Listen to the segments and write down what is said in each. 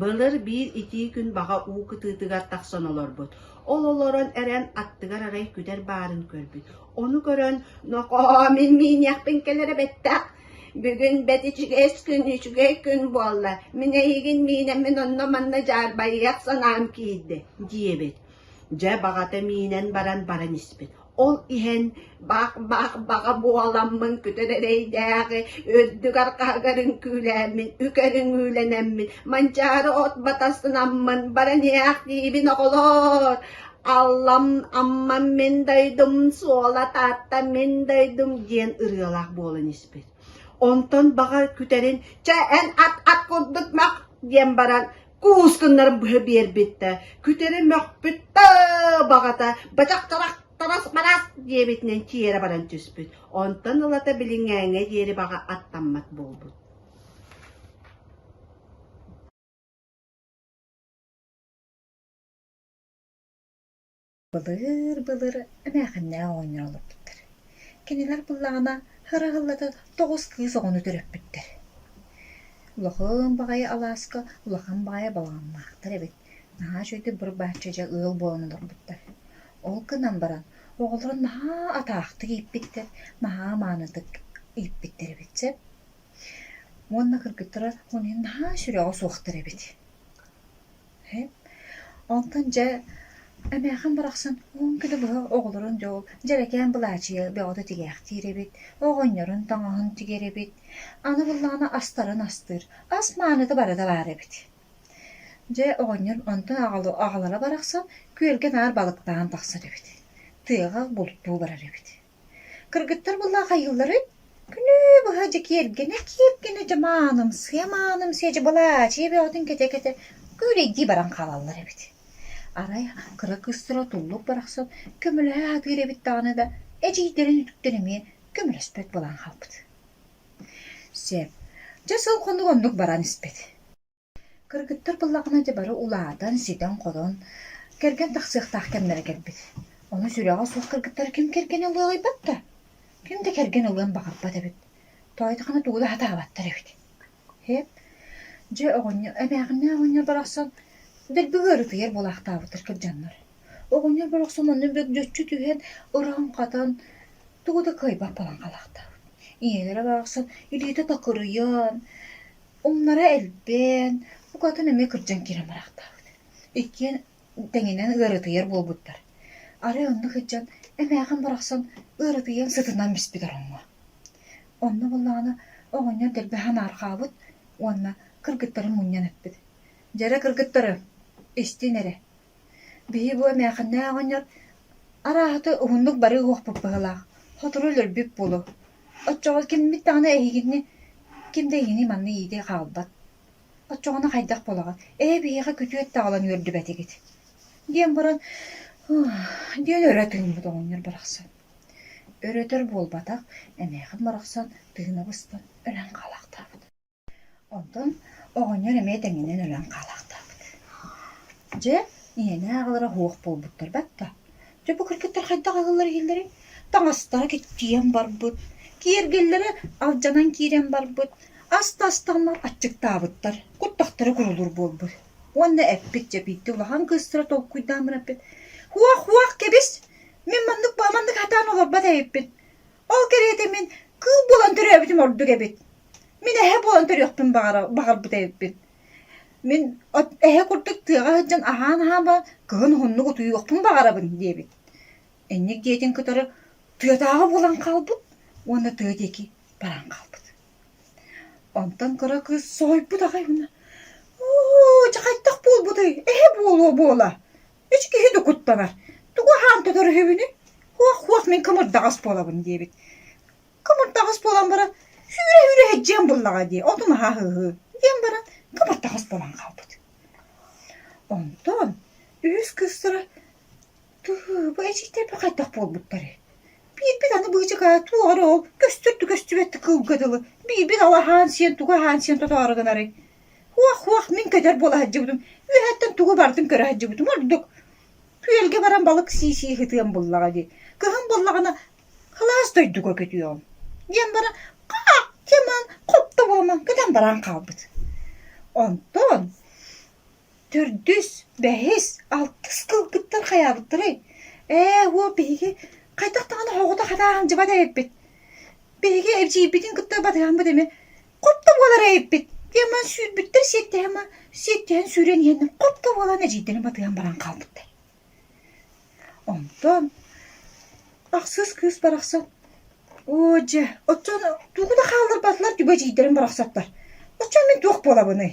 Былыр биир итии күн баҕа уу кытыытыгар тахсан олорбут, ол олорон эрэн аттыгар арай күтэр баарын көрбүт. Ону көрөн «Нохоо, мин мииниэхпин кэлэрэ бэттэх, бүгүн бэт үчүгэйс күн, үчүгэй күн буолла, мин эйигин миинэммин онно-манна дьаарбайыах санаам киирдэ» диэбит. Дьэ баҕата миинэн баран баран испит. Ол иһэн бах-бах-баҕа буоламмын күтүр эрэйдээҕи үрдүк арҕаһыгар үҥкүүлээммин, үк өрүҥүүлэнэммин, Манчаары от батасынаммын баран иһээх диибин оҕолоор, Аллам Аммам мин дойдум, Суола Таатта мин дойдум диэн ырыалаах буолан испит. Онтон баҕар күтэрин «Чэ эн ат ат курдук мах» диэн баран Уус гыннаран быһа биэрбиттэ, күтүрү мөхпүт да баҕата бачах чарах тарас барас диэбитинэн чиэрэ баран түспүт, онтон ылата билиҥҥээҥҥэ диэри баҕа аттаммат буолбут Былыр-былыр эмээхиннээх оҕонньор олорбуттар. Кинилэр буоллаҕына һыраһыллата тоҕус кыыс оҕону төрөппүттэр. Улахан баҕайы алааска улахан баҕайы балаҕаннаахтар эбит. Наһаа үчүгэйдик буруй-бааччы дьэ ыал буолан олорбуттар. Ол гынан баран оҕолоро наһаа атаахтык ииппиттэр, наһаа маанытык ииппиттэр эбит сөп. Уонна кыргыттара наһаа сүрэҕэ суохтар эбит. Онтон дьэ Эмээхин барахсан уон күнү быһа оҕолорун дьол дьэрэкээн былаачыйа бөҕөтө тигээхтиир эбит, оҕонньорун тоҥоһун тигэр эбит, аны буоллаҕына астарын астыыр, ас мааныта бары да баар эбит. Дьэ оҕонньор онтон аҕалы аҕалара барахсан күөлгэ наар балыктаан тахсар эбит, тыаҕа бултуу барар эбит. Кыргыттар былаахайыылларын күнү быһа дьэ киэргэнэ-киэргэнэ дьамааным-сыамааным-сыа дьабалаачыйа бөҕөтүн кэтэ-кэтэ күөрэйдии баран хаалаллар эбит. Арай кыра кыыстара туллук барахсан көмөлөһө сатыыр эбит даҕаны да эдьиийдэрин үтүктэн эмиэ көмөлөспөт буолан хаалбыт. Сөп, дьэ сыл хонук оннук баран испит Кыргыттар быллаҕына дьэ бары улаатан, ситэн-хорон, кэргэн тахсыахтаах кэмнэрэ кэлбит. Ону сүрэҕэ суох кыргыттар ким кэргэнин ылыаҕыйбат да, ким да кэргэн ылыан баҕарбат эбит. Тоойдохоно тугу да сатаабаттар эбит. Һээп, дьэ оҕонньор, эмээхиннээх оҕонньор барахсан дэлби ыарытыйар буолаахтаабыттар кырдьаннар. Оҕонньор барахсан манна бөгдьөччү түһэн, ыран-хатан, тугу да кыайбат буолан хаалаахтаабыт. Ийэлэрэ барахсан илиитэ такырыйан, Умнара элбээн, букатын эмиэ кырдьан киирэн бараахтаабыт. Иккиэн тэҥинэн ыарытыйар буолбуттар. Арай оннук сылдьан эмээхин барахсан ыарытыйан сытынан биспит ороҥҥо. Онно буоллаҕына оҕонньор дэлби ханаархаабыт уонна кыргыттары мунньан эппит: «Дьэрэ кыргыттары, истин эрэ, Биһи бу эмээхэннээх оҕонньор арааһата уһуннук бары уһуохпут быһыылаах, сотору өлөрбүт буолуо. Оччоҕо киммит даҕаны эһигини, ким да эһигини манна иитии хаалбат. Оччоҕуна хайдах буолаҕын, ээ биһиэхэ күтүөт таҕылан үөрдүбэтигит диэн баран диэн өрө тыыммыт оҕонньор барахсан. Өр-өтөр буолбатах, эмээхин барахсан тыына быстан өлөн хаалаахтаабыт Онтон оҕонньор эмиэ тэҥинэн өлөн хаалаахтаабыт. Дьэ, ийэни ааҕалара суох буолбуттар батта. Дьэ, бу кыргыттар хайдах аҕаллара иһиллэрий? Таҥастара киччийэн барбыт, киэргэллэрэ алдьанан киирэн барбыт, аста-астаҕына аччыктаабыттар, куттахтара курулуур буолбут. Уонна эппит, дьэбиирдэ улахан кыыстара толкуйдаан баран эппит: «Һуох-һуох, кэбис! Мин маннык-бааманнык сатаан олорбот эбиппин. Ол кэриэтэ мин кыыл буолан төрөөбүтүм ордук эбит. Мин эһэ буолан төрүөхпүн баҕара баҕарбыт эбиппин. Мин от эһэ курдук тыаҕа сылдьан аһаан-аһаама кыһын уһуннук утуйуохпун баҕарабын диэбит. Инник дьиэтин кытары тыатааҕы буолан хаалбыт уонна тыа диэки баран хаалбыт. Онтон кыра кыыс соһуйбут аҕай уонна «Оо, дьэ хайдах буолбутуй? Эһэ буолуо буола!» Үс киһи да куттанар. Тугу аһаан тотор үһүбүнүй? Хуох-хуох мин кымырдаҕас буолабын диэбит. Кымырдаҕас буолан баран сүүрэ-сүүрэ һэдьиэн буллаҕа дии, отун аһаа һыһыы диэн баран кымырдаҕас буолан хаалбыт. Онтон үһүс кыыстара бу эдьиийдэрбэ хайдах буолбуттарый? Биирбит аны быычыкаа туох эрэ ол көстөрдү көстүбэттик кылга дылы, биирбит алаһаан сиэн тугу аһаан сиэн тотоору гынарый? Уох-уох, мин көтөр буола сылдьыбытым. Үөһэттэн тугу барытын көрө сылдьыбытым ордук. Күөлгэ баран балык сии-сии сытыам буоллаҕа дии. Кыһын буоллаҕына кылаас дойдуга көтүөҕүм. диэн баран хааччыман, хоптоҕоломон гынан баран хаалбыт. Онтон төрдүс, бэһис, алтыс кылгыттар хайаабыттарай? Ээ, уол биһиги хайдах даҕаны оҕото хатааһындьыбат эбиппит. Биһиги эбдьиийбитин кытта батыһаммыт эмиэ хоп да буолар эйиппит диэма сүүрбүттэр сиэттэһэ ма сиэттэһэн сүүрэн иһэн хоп да буолан эдьиийдэрин батыйан баран хаалбыттар онтон ахсыс кыыс барахсан оо дьэ оччон тугу да хаалларбатылар түбэ эдьиийдэрим барахсаттар оччон мин туох буолабыный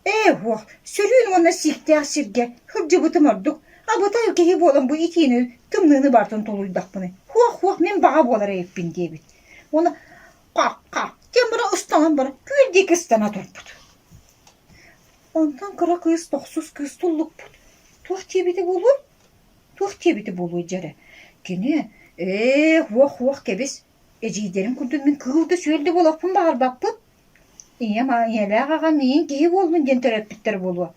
ээ уох сөрүүн уонна сииктээх сиргэ сылдьыбытым ордук абытай киһи буолан бу итиини тымныыны бартын тулуйдахпыный уох уох мин баҕа буолар эйиппин диэбит уонна Ха-ха, тимура ыстаҥан баран күөл диэки ыстана турбут. Онтон кыра кыыс, тохсус кыыс туллукпут. Туох диэбитэ буолуой? Туох диэбитэ буолуой дьэ эрэ. Кини ээ уох-уох кэбис, эдьиийдэрин курдук мин кыыл да сүөл да буолуохпун баҕарбаппын. Ийэм ийэлээх аҕам миигин киһи буоллун диэн төрөппүттэрэ буолуо.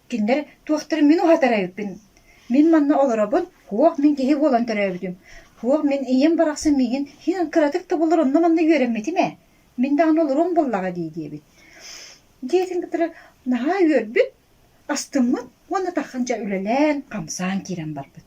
Кинилэр туохтарын мин уһатара ыыппын, мин манна олоробун, туох мин киһи буолан төрөөбүтүм, туох мин ийэм барахсан миигин иһин кыратык да булар онно-манна үөрэммитим ээ, мин даҕаны олоруом буоллаҕа дии диэбит. Дьиэтин кытары наһаа үөрбүт, астыммыт уонна тархан дьэ үлэлээн, хамсаан киирэн барбыт.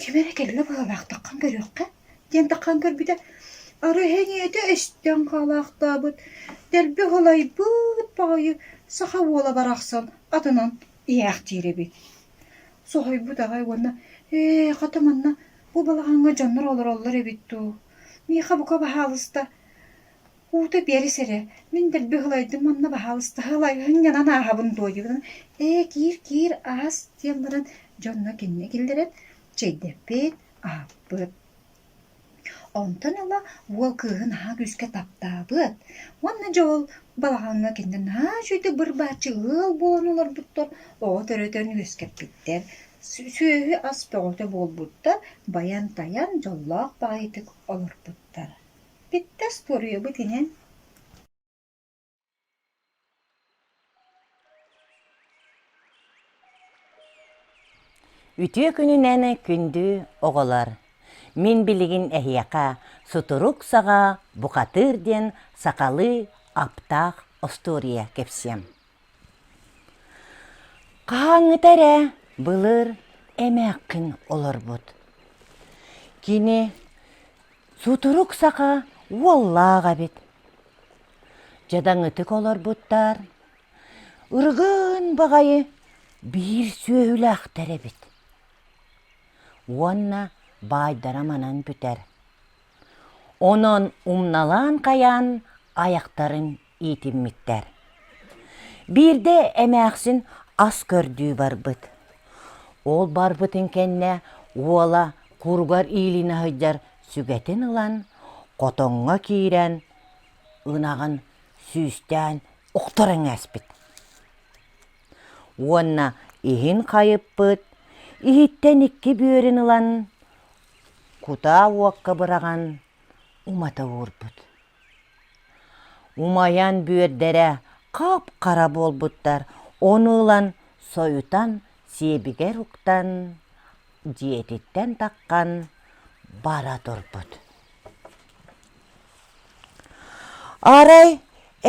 Ким эрэ кэлинэ быһыылаахтаххын көрүөххэ диэн таххан көрбүтэ, арай эһиэхэ истэн хаалаахтаабыт, дэлби ылайбыт баҕайы саха уола барахсан атынан иһээхтиир эбит. Соһуйбут аҕай уонна «Ээ, хата манна бу балаҕаҥҥа дьоннор олороллор эбит дуу? Миэхэ бука баһаалыста Уута биэрис эрэ, мин дэлби ылайдым уонна баһаалыстаһа ылайыһын гынан ааһабын дуо диигин ээ киир киир аас диэн баран дьонно кинини киллэрэн чэйдэппит, аһаппыт. Онтон ыла уол кыыһы наһаа күүскэ таптаабыт уонна Дьоол балаҕаҥҥа кинини наһаа үчүгэйдик быр-бааччы ыал буолан олорбуттар, оҕо төрөтөн үөскэппиттэр. Сүөһү ас бөҕөтө буолбуттар, байан-тайан дьоллоох баҕайытык олорбуттар. Биттэс туоруйабыт иһин Үтүө күнүнэн күндү оҕолор! Мин билигин эһиэхэ сутурук саҕа бухатыыр диэн сахалыы аптаах остуоруйа кэпсиэм. Хаһааҥҥыта эрэ былыр эмээххин олорбут. Кини сутурук саха уоллаах эбит. Дьадаҥытык олорбуттар, ыргын баҕайы биир сүөһүлээхтэр эбит. Уонна баайдара манан бүтэр. Онон умналаан хайаан айахтарын иитиммиттэр. Биирдэ эмээхсин ас көрдүү барбыт. Ол барбытын кэннэ уола куругар иилиинэ сылдьар сүгэтин ылан, хотоҥҥо киирэн, ынаҕын сүүстээн ухтаран ээспит. Уонна иһин хайыппыт, иһиттэн икки бүөрүн ылан, кутаа уокка быраҕан умата уурбут. умайан бүөрдэрэ хап-хара буолбуттар ону ылан сойутан сиэбигэр уктан дьиэтиттэн таххан бара турбут арай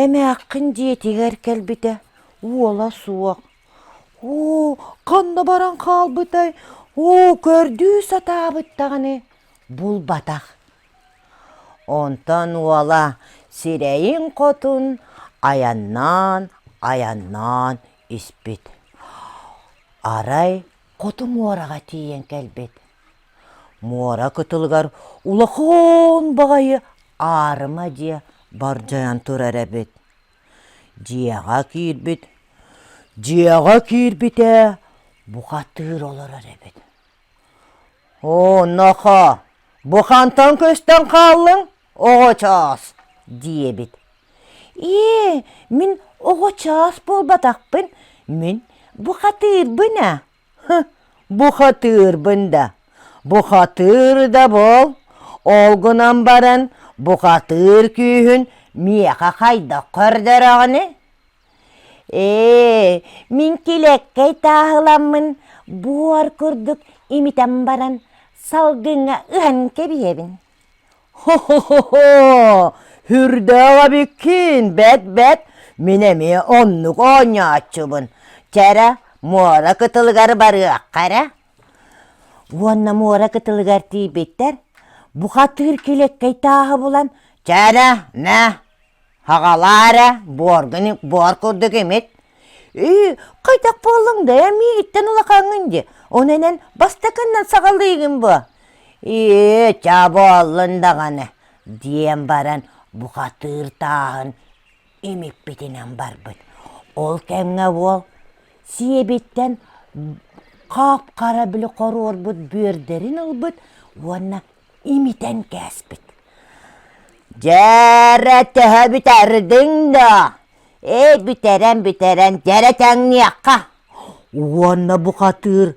эмээххин дьиэтигэр кэлбитэ уола суох оо ханна баран хаалбытай оо көрдүү сатаабыт даҕаны булбатах Онтон уола сирэйин-хотун айаннаан, айаннаан испит. Арай хоту муораҕа тиийэн кэлбит. Муора кытылыгар улахан баҕайы аарыма дьиэ бардьайан турар эбит. Дьиэҕэ киирбит, дьиэҕэ киирбитэ бухатыыр олорор эбит. онуоха бу хантан көстөн хааллыҥ оҕо чаас диэбит ээ мин оҕо чаас буолбатахпын мин бухатыырбын ээ бухатыырбын да бухатыыр да буол ол гынан баран бухатыыр күүһүн миэхэ хайдах көрдөрөҕүнүй ээ мин килиэккэй тааһыламмын буор курдук имитэн баран салгыҥҥа ыһан кэбиһэбин хоһоһоһоо үрдээх эбиккин бэт бэт мин эмиэ оннук оонньооччубун чэрэ муора кытылыгар барыахха эрэ Уонна муора кытылыгар тиийбиттэр, бука түүр килиэккэй тааһы булан «Чэрэ, мэ, хаҕалаа эрэ, буоргуник буор курдук имит, ии, хайдах буоллуҥ да ээ миигиттэн улахаҥҥын дии, ону эн бастакыннан саҕалыыгын буо, ээ чэ буоллун даҕаны», диэн баран бухатыыр тааһын имиппитинэн барбыт. Ол кэмҥэ уол сиэбиттэн хаап-хара били хоруорбут бүөрдэрин ылбыт уонна имитэн кээспит. Дьээрэ төһө бүтэрдиҥ доо? Эт бүтэрэн бүтэрэн дьэрэ тэҥниэххэ. Уонна бухатыыр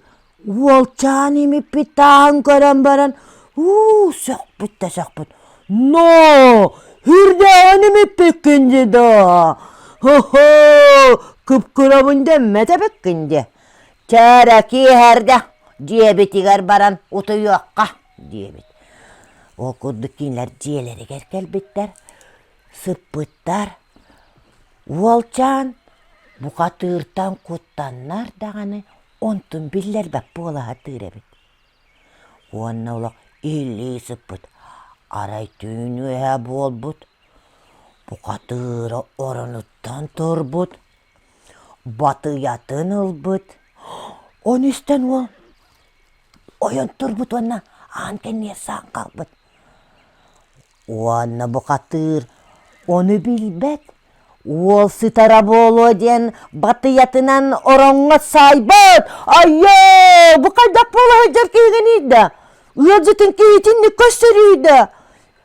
Уолчаан имиппит тааһын көрөн баран уу сөхпүт да сөхпүт ноо үрдээҕин имиппиккин дии доо хоһоо кыпкырабын дэммэт эбиккин дии чээрэ киэһэрдэ дьиэбитигэр баран утуйуохха диэбит ол курдук кинилэр дьиэлэригэр кэлбиттэр сыппыттар уолчаан бука тыыртан куттаннар даҕаны онтун биллэрбэт буолаһатыыр эбит уонна олох иһиллии сыппыт арай түүн үөһэ буолбут букатыыра оронуттан турбут батыйатын ылбыт ону истэн уол ойон турбут уонна аан кэнниэр саан хаалбыт уонна бухатыыр ону билбэт уол сытара буолуо диэн батыйатынан ороҥҥо саайбат айыы бу хайдах буола сылдьар киһиниийдэ ыалдьытын киһитинник көрсөрүйдэ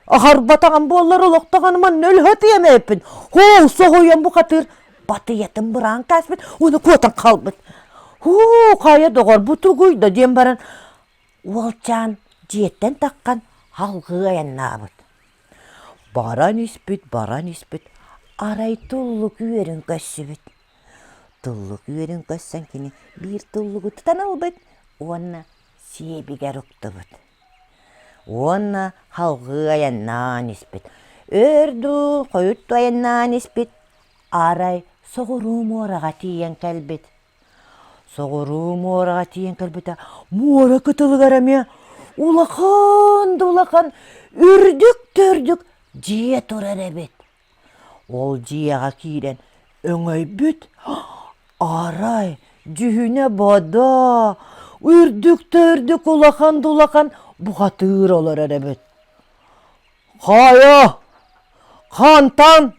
аһарбатаҕым буоллар олохтоҕун манна өлөтүөм эппин һуу соһуйан бухатыыр батыйатын быраан кээспит уону куотан хаалбыт һуу хайа доҕор бу тугуй да диэн баран Уолчаан дьиэттэн таххан салгыы айаннаабыт. Баран испит, баран испит, арай туллук үөрүн көрсүбүт. Туллук үөрүн көрсөн кини биир туллугу тутан ылбыт уонна сиэбигэр уктубут. Уонна салгыы айаннаан испит. Өр дуу, хойут дуу айаннаан испит, арай соҕуруу муораҕа тиийэн кэлбит. Соҕуруу муораҕа тиийэн кэлбитэ, муора кытылыгар эмиэ улахан да улахан үрдүк да үрдүк дьиэ турар эбит. Ол дьиэҕэ киирэн өҥөйбүт арай дьүһүнэ бодо, үрдүк да үрдүк улахан да улахан бухатыыр олорор эбит. «Хаайа, хантан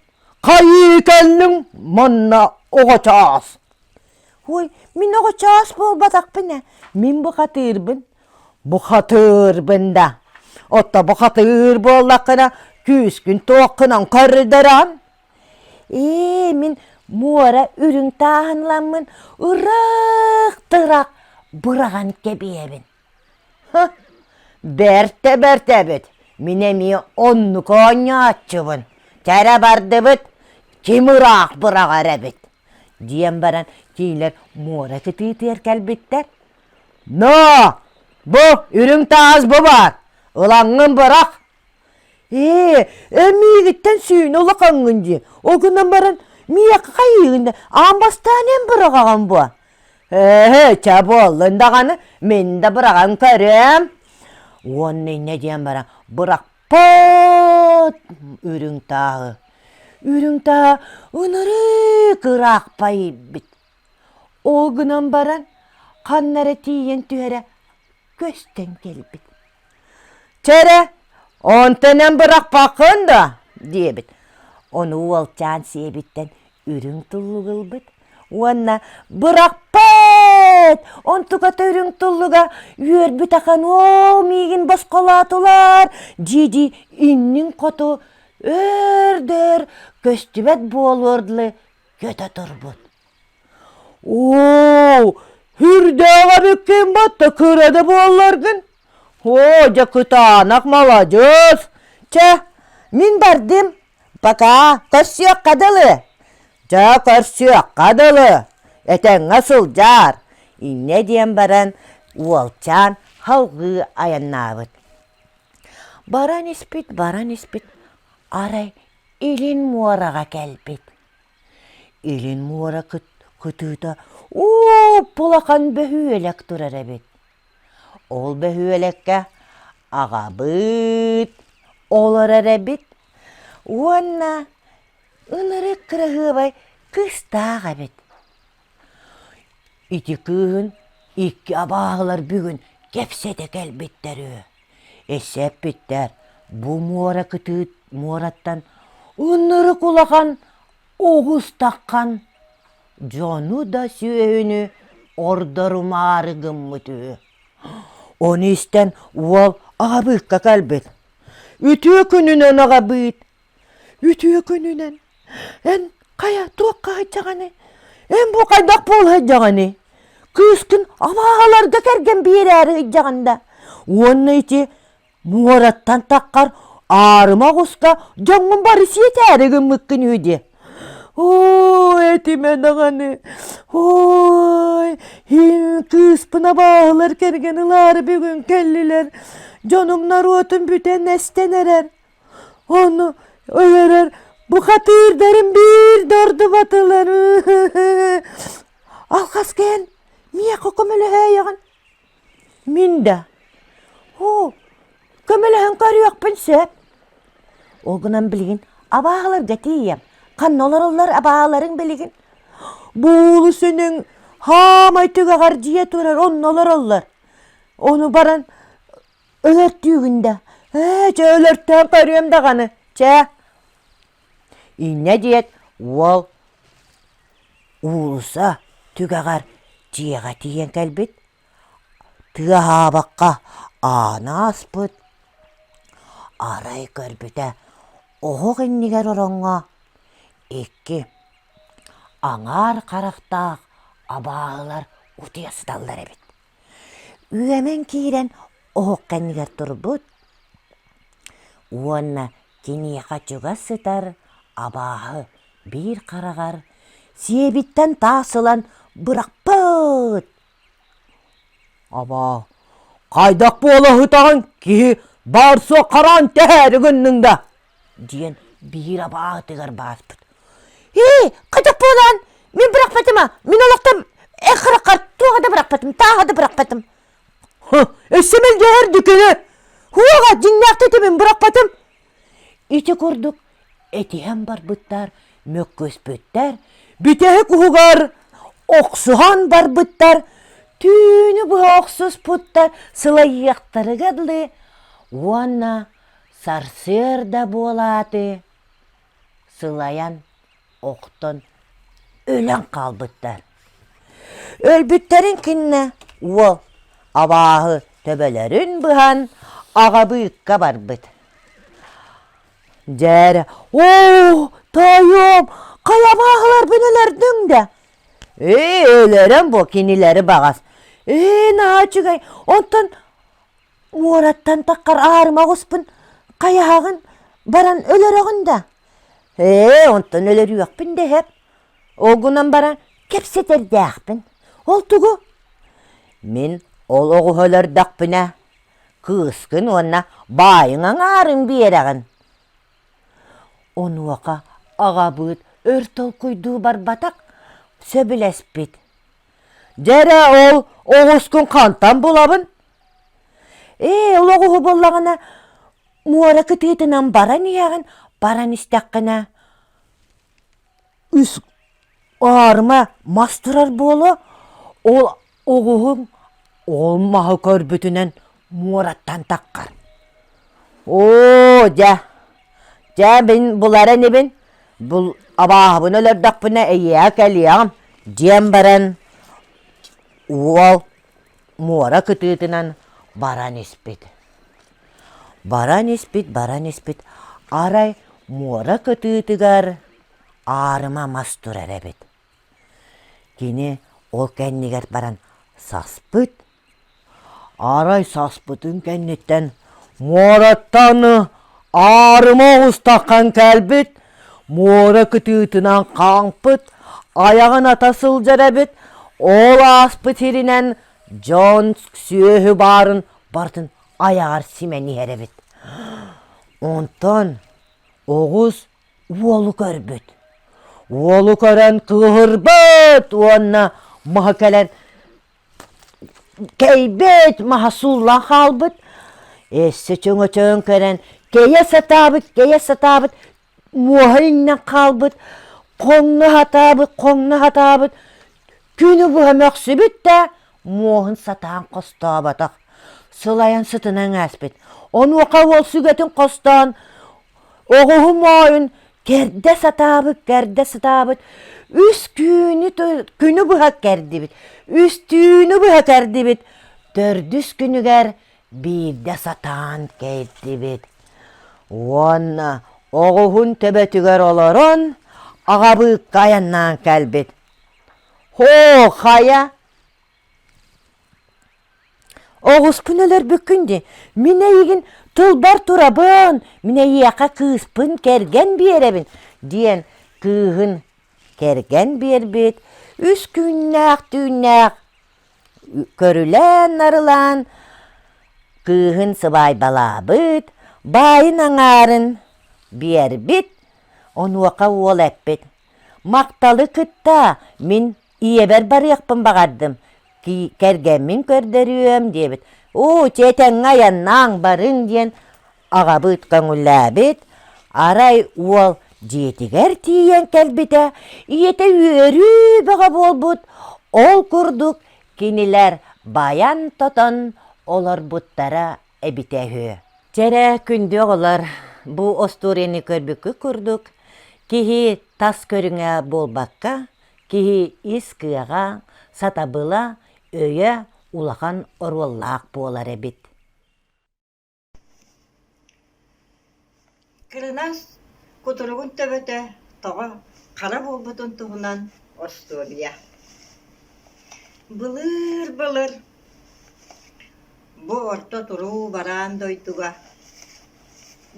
Хайыы кэллиҥ манна оҕочаас Ой, мин оҕочаас буолбатахпын ээ, мин бухатыырбын Бухатыырбын да Отто бухатыыр буоллаххына күүскүн туоххунан көрдөрөм Ээ, мин муора үрүҥ тааһын ламмын ыраах тырах быраҕан кэбиэбин Бэртэ бэртэбит мин эмиэ оннук оонньооччубун кэрэ бардыбыт ким ыраах быраҕар эбит диэн баран кинилэр муора сытыытыгар кэлбиттэр ноо бу үрүҥ таас бу баар ылаҥҥын быраҕ ээ эн миигиттэн сүүнэ улахаҥҥын дии ол гынан баран миэхэ хайыыгын аан бастаан эн быраҕаҕын буо ээ чэ буоллун даҕаны мин да быраҕан көрүөм уонна инньэ диэн баран бырахпат үрүҥ тааһы үрүҥ таа ынырыык ыраахпа иирбит Ол гынан баран ханна эрэ тиийэн түһэрэ көстөн кэлбит. «Чэ эрэ, онтон эн бырахпаккын да?» диэбит. Ону уолчаан сиэбиттэн үрүҥ туллугу ылбыт уонна «Бырахпат! Онтуката үрүҥ туллуга үөрбүт ахан ол миигин босхолоотулар!» дии-дии иннин хоту өр да өр көстүбэт буолуор дылы көтө турбут оо үрдээҕим иккиэн батта кыра да буолларгын оо дьэ кытаанах маладьыас чэ мин бардым пока көрсүөххэ дылы дьэ көрсүөххэ дылы этэҥҥэ сылдьаар инньэ диэн баран уолчаан салгыы айаннаабыт баран испит баран испит арай Илин муораҕа кэлбит. Илин муора кыт кытыыта уупп улахан бөһүөлэк турар эбит. Ол бөһүөлэккэ аҕабыыт олорор эбит уонна ынырык кыраһыабай кыыстаах эбит. Ити кыыһын икки абааһылар бүгүн кэпсэтэ кэлбиттэр үһү, эсэппиттэр бу муора кытыыт муораттан уннурук улахан оҕус таххан дьону да сүөһүнү ордорумаары гыммыт үһү. Ону истэн уол аҕабыыкка кэлбит, үтүө күнүнэн аҕабыыт Үтүө күнүнэн эн хайа туохха сылдьаҕыный? Эн бу хайдах буола сылдьаҕыный? Кыыскын абааһыларга кэргэн биэрээри сылдьаҕын да? Уонна ити муораттан таххар аарыма оҕуска дьоҥҥун бары сиэтээри гыммыккын үһү диэ. Оо этимэ даҕаны ой кыыспын абааһылар кэргэн ылаары бүгүн кэллилэр дьонум норуотум бүтэн эстэн эрэр. Ону өлөрөр бухатыырдарым биирдэ ордубатылар Алҕас кээн миэхэ көмөлөһөөйөҕүн мин да оо көмөлөһөн көрүөхпүн сөп ол гынан билигин абааһыларга тиийиэм ханна олороллор абааһыларыҥ билигин буулус үнүҥ хаамай түгэҕэр дьиэ турар онно олороллор ону баран Өлөртүүгүн да, ээ, чэ, өлөртөөн көрүөм даҕаны, чэ. Инньэ диэт уол уулусса түгэҕэр дьиэҕэ тиийэн кэлбит, тыаһаабакка аана ааспыт, арай көрбүтэ оһох иннигэр ороҥҥо икки аҥаар харахтаах абааһылар утуйа сыталлар эбит. Үөмэн киирэн оһох кэннигэр турбут уонна киниэхэ чугас сытар абааһы биир хараҕар сиэбиттэн таас ылан бырахпыт. Абаа, хайдах буола сытаҕын киһи баар-суох хараҕын тэһээри гынныҥ да диэн биир абаатыгар бааспыт ээ кадьах буолаан мин бырахпатым а мин олохтон эх хараххар туоха да бырахпатым тааха да бырахпатым өссө мэлдьэһэр дьүкүнэ хуоҕа дьиҥнээхтик этимин бырахпатым ити курдук этиһэн барбыттар мөккүспүттэр бүтэһик уһугар охсуһан барбыттар түүнү быһа охсуспуттар сылайыахтарыга дылы уонна Сарсыарда буолааты, сылайан охтон өлөн хаалбыттар. Өлбүттэрин кэннэ уол абааһы төбөлөрүн быһан аҕа быыкка барбыт. Дьэр, оо, тоойуом, хайа абааһылар бин өлөрдүҥ да? Ээ, өлөрөн бу кинилэри баҕас. Ээ, наһаа үчүгэй, онтон Уораттан таккар аарыма оҕуспун хайаһаҕын баран өлөрөҕүн да? Ээ, онтон өлөрүөхпүн дэһэр. Ол гынан баран кэпсэтэрдээхпин. Ол тугу? Мин ол оҕуһу өлөрдөхпүнэ, кыыскын уонна баайыҥ аҥаарын биэрэҕин. Онуоха аҕабыыт өр толкуйдуу барбатах, сөбүлэспит: Дьэрэ ол оҕускун хантан булабын? Ээ, ол оҕуһу буллаҕына муора кытыытынан баран иһэҕин, баран истэххинэ үс аарыма мас турар буолуо, ол оҕуһуҥ ол маһы көрбүтүнэн муораттан таххар оо дьэ дьэ мин булара инибин бул абааһыбын өлөрдөхпүнэ эйиэхэ кэлиэҕим диэн баран уол муора кытыытынан баран испит баран испит баран испит арай муора кытыытыгар аарыма мас турар эбит Кини ол кэннигэр баран саспыт, арай саспытын кэнниттэн муораттан аарыма оҕустаххан кэлбит, муора кытыытынан хаампыт, айаҕын ата сылдьар эбит, ол ааспыт сиринэн дьон сүөһү баарын барытын айаҕар симэн иһэр эбит. Онтон оҕус уолу көрбүт. Уолу көрөн кыыһырбыт уонна маһа кэлэн кэйбит маһа сууллан хаалбыт. Эссе чөҥөчөөн көрөн кэйэ сатаабыт, кэйэ сатаабыт, муоһа иҥнэн хаалбыт, хоҥно сатаабыт, хоҥно сатаабыт. Күнү быһа мөхсүбүт да муоһун сатаан хостооботох. Сылайан сытынан ааспыт. Онуоха уол сүгэтин хостоон Оҕуһум оойун кэрдэ сатаабыт, кэрдэ сатаабыт. Үс түүнү күнү быһа кэрдибит, үстүүнү быһа кэрдибит. Төрдүс күнүгэр биирдэ сатаан кэрдибит. Уонна оҕуһун төбөтүгэр олорон аҕабыыкка айаннаан кэлбит. Һоо хайа Оҕуспун өлөрбүккүн дии, мин эйигин тылбар турабын, мин эйиэхэ кыыспын кэргэн биэрэбин, диэн кыыһын кэргэн биэрбит үс түүннээх-түүннээх көрүлээн-нарылаан кыыһын сыбаайбалаабыт, баайын аҥаарын биэрбит, онуоха уол эппит: «Махталы кытта мин ийэбэр барыахпын баҕардым ки- кэргэммин көрдөрүөм диэбит уу тиэтэҥҥэ айаннааҥ барыҥ диэн аҕабыт көҥүллээбит арай уол дьиэтигэр тиийэн кэлбитэ ийэтэ үөрүү бөҕө буолбут ол курдук кинилэр байан-тотон олорбуттара эбитэ үһү дьэ эрэ күндү оҕолор бу остуоруйаны көрбүккүт курдук киһи тас көрүҥэ буолбакка Киһи ис кыаҕа, сатабыла, өйө улахан оруоллаах буолар эбит Кырынас кутуругун төбөтө тоҕо хара буолбутун туһунан остуоруйа Былыр-былыр бу орто туруу бараан дойдуга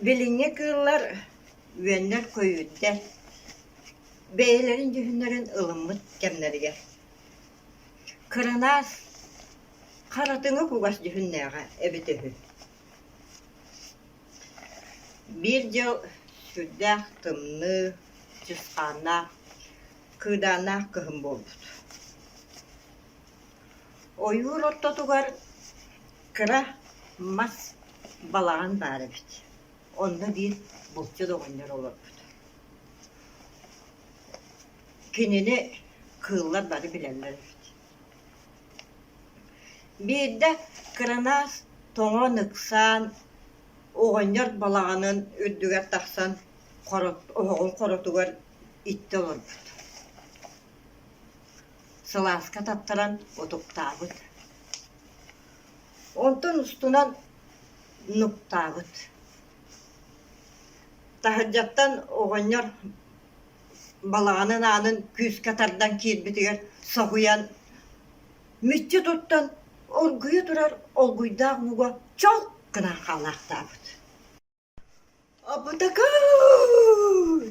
билиҥҥи кыыллар үөннэр көйүүрдэр бэйэлэрин дьүһүннэрин ылыммыт кэмнэригэр кырынаас харатыҥы кугас дьүһүннээҕэ эбит үһү биир дьыл сүрдээх тымныы чысхааннаах кыыдааннаах кыһын буолбут ойуур ортотугар кыра мас балаҕан баар эбит Онно биир булчут оҕонньор олорбут. Кинини кыыллар бары билэллэр эбит. Биирдэ кыранаас тоҥон ыксаан, оҕонньор балаҕанын үрдүгэр тахсан оһоҕун хоротугар иттэ олорбут. Сылааска таттаран утуктаабыт. Онтон устунан нуктаабыт. Таһырдьаттан оҕонньор балаҕанын аанын күүскэ тардан киирбитигэр соһуйан мүччү туттан оргуйа турар олгуйдаах уҥуга чолк гынан хаалаахтаабыт Абытакаан!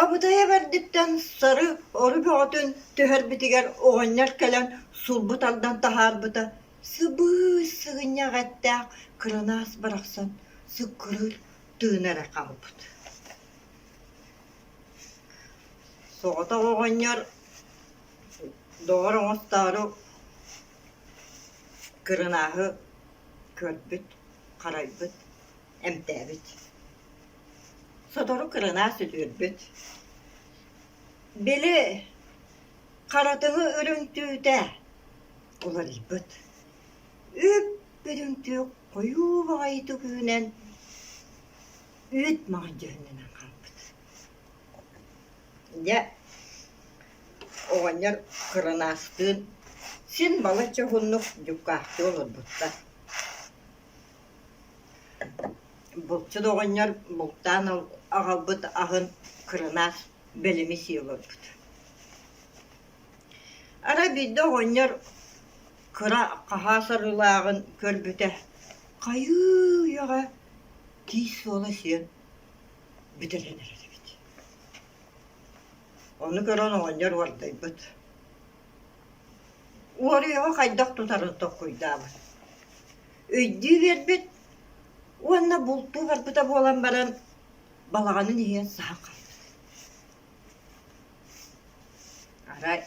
Абытайа бэрдиттэн сары ору бөҕөтүн түһэрбитигэр оҕонньор кэлэн сулбу тардан таһаарбыта сыбыыс сыгынньах эттээх кыранаас барахсан сыккырыыр тыына эрэ хаалбыт. Соҕотох оҕонньор доҕор оҥостоору кырынааһы Көрбүт, харайбыт, эмтээбит. Сотору кырынаас үтүөрбүт. Били харатыһы үрүҥтүүтэ уларыйбыт. Үп үрүҥтүө хойуу баҕайытык үүнэн, үүт маҕайдыһыннынан хаалбыт Дьэ, оҕонньор кырынааскыын син балачча уһуннук дьуккаахтыы олорбуттар. Булчут оҕонньор бултаан аҕалбыт аһын кырынаас бэлэмисий олорбут. Арай биирдэ оҕонньор кыра хаһаас арыылааҕын көрбүтэ, хайыы үйэҕэ тиис суола сиэн бүтэрэн эрэрбит. Ону көрөн оҕонньор уордайбыт. Уоруйаҕа хайдах тутарын толкуйдаабыт. Өйдүү биэрбит уонна бултуу барбыта буолан баран балаҕанын иһэн саһан хаалбыт. Арай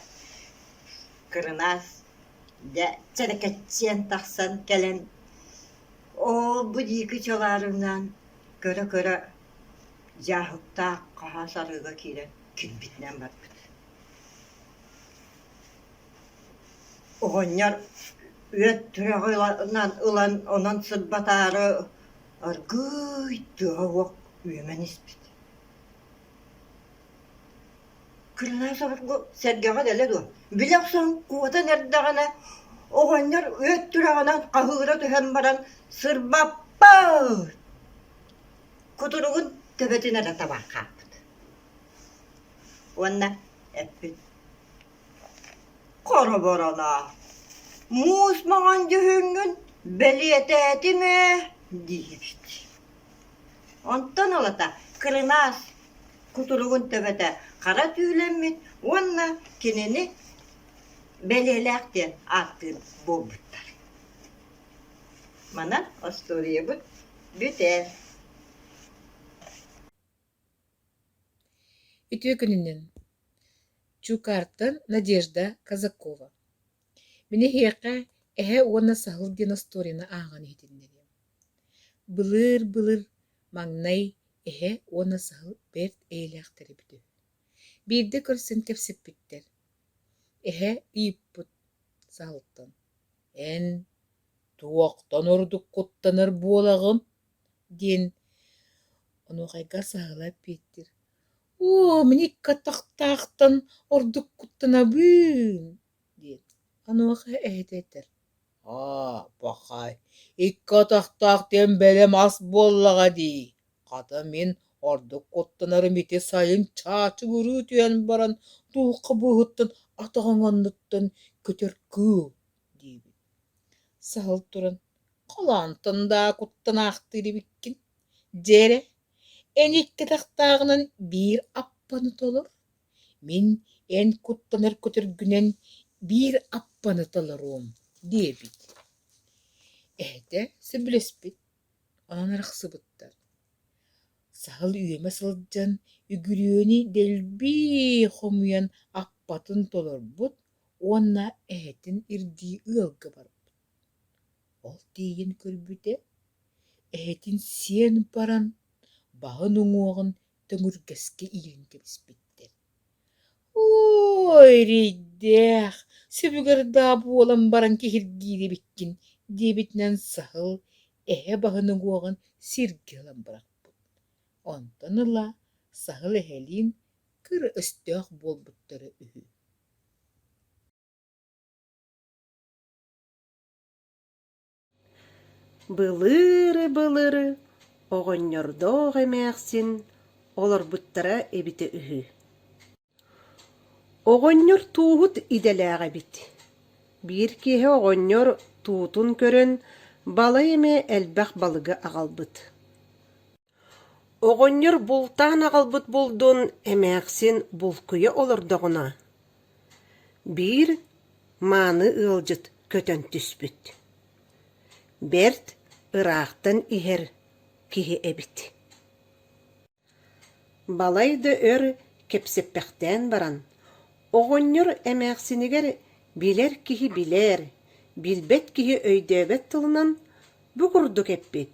кырынаас дьэ сэлэкэччийэн тахсан кэлэн оо бу диики чалаарынаан Кыра-кыра дьааһыктаах хаһаас арыыга киирэн килбитинэн барбыт. Оҕонньор үөт түрэҕинэн ылан онон сырбатаары аргыый тыаһа уох үөмэн испит Кырыынан соругу сэргэҕин элэ дуо? Били охсон куотан эрдэҕинэ, оҕонньор үөт түрэҕинэн хаһыыра түһэн баран сырбаппыт! Кутуругун төбөтүн эрэ табан хааппыт. Уонна эппит: «Хоробороноо, муус маҥан дьүһүҥҥүн бэлиэтээтим ээ» диэбит. Онтон ылата кырынаас кутуругун төбөтө хара түүлэммит уонна кинини бэлиэлээх диэн ааттыыр буолбуттар. Манан остуоруйабыт бүтэр. Үтүө күнүнэн. Чуукаартан Надежда Казакова. Мин эһиэхэ «Эһэ уонна саһыл» диэн остуоруйаны ааҕан иһитиннэриэм. Былыыр-былыр маҥнай эһэ уонна саһыл бэрт эйэлээхтэр эбит үһү. Биирдэ көрсөн кэпсэппиттэр. Эһэ ыйыппыт саһылтан: «Эн туохтан ордук куттанар буолаҕын?» диэн онуохайга саһыла эппиэттиир: «Оо, мин икки атахтаахтан ордук куттанабын» диэт, онуоха эһэтэ этэр: «Аа, бакай, икки атахтаах диэн бэлэм ас буоллаҕа дии, хата мин ордук куттанарым ити сайын чаачыгырыы түһэн баран туохха быыһыттан атах оҥоннуттан көтөр кыыл» диэбит. Саһыл туран: «Халаантан даа куттан аахтыыр эбиккин, дьэ эрэ, эн икки атахтааҕынан биир аппаны толор, Мин эн куттанар көтөргүнэн биир аппаны толоруом диэбит Эһэтэ сөбүлэспит, онон арахсыбыттар. Саһыл үөмэ сылдьан үгүрүөнү дэлби хомуйан аппатын толорбут уонна эһэтин ирдии ыалга барбыт. Ол тиийэн көрбүтэ, эһэтин сиэн баран, баһын уҥуоҕун Төҥүргэскэ ийэн кэбиспиттэр. «Ой, эрэйдээх, сөбүгэр даа буолан баран киһиргиирибиккин» диэбитинэн саһыл эһэ баһыныгуоҕун сиргэ ылан бырахпыт. Онтон ыла саһыл эһэлиин кыра өстөөх буолбуттара үһү Былыры-былыры оҕонньордоох эмээхсин олорбуттара эбитэ үһү Оҕонньор тууһут идэлээх эбит Биир киэһэ оҕонньор туутун көрөн балай эмэ элбэх балыгы аҕалбыт Оҕонньор бултаан аҕалбыт булдун эмээхсин булкуйа олордоҕуна, биир мааны ыалдьыт көтөн түспүт. Бэрт ыраахтан иһэр киһи эбит Балай да өр кэпсэппэхтээн баран, оҕонньор эмээхсинигэр билэр киһи билэр, билбэт киһи өйдөөбөт тылынан бу курдук эппит: